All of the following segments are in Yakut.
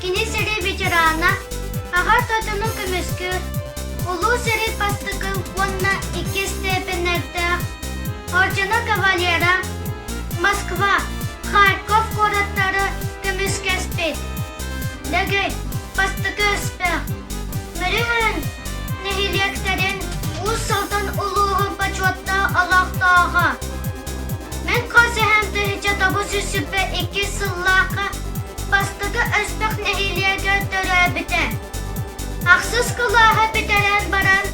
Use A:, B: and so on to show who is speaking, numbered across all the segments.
A: Кини сэрии ветерана, аҕа тотуну көмүскүүр, улуу сэрии бастакын уонна иккис степеннэрдээх ордено кавалера Москва, Харьков куораттары көмүскэспит. Дэгэй, бастакы өспөх. Мөрүһэн нэһилиэктэрин Уус Алдан улууһун бочуоттаах олохтооҕо. Мин хос эһэм тыһыынча тоҕус жүз сүүрбэ иккис сыллаахха бастакы өстөх нэһилиэгэ төрөөбүтэ. Ахсыс кылааһа бүтэрэн баран,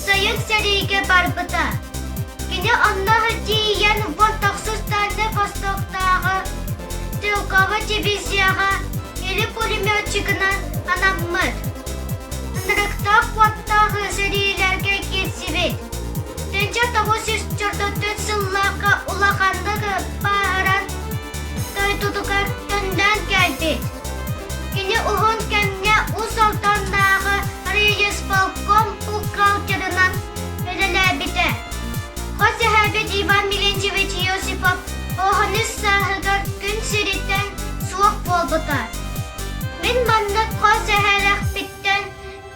A: Сойут сэриигэ барбыта. Кини онно тиийэн Вон-Тохсустаанны востоктааҕы стрелковой дивизияҕа или пулеметчигынан анаммыт. Ынырыктаах куоттаах сэриилэргэ киирсибит. 1934 сылларга улаханнык бааһыран дойдутугар төннөн кэлбит. Кини уһун кэмҥэ Уус Алданнааҕы рейисполком бухгалтерынан үлэлээбитэ. Хос эһээбит Иван Милентьевич Иосипов оҕоһунус сааһыгар күн сириттэн суох буолбута. Мин маннык хос эһэлэхпиттэн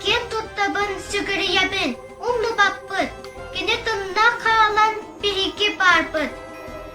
A: киэн туттабын, сүгүрүйэбин, умнубаппыт. Кини тынна хаалан биһиги баарбыт.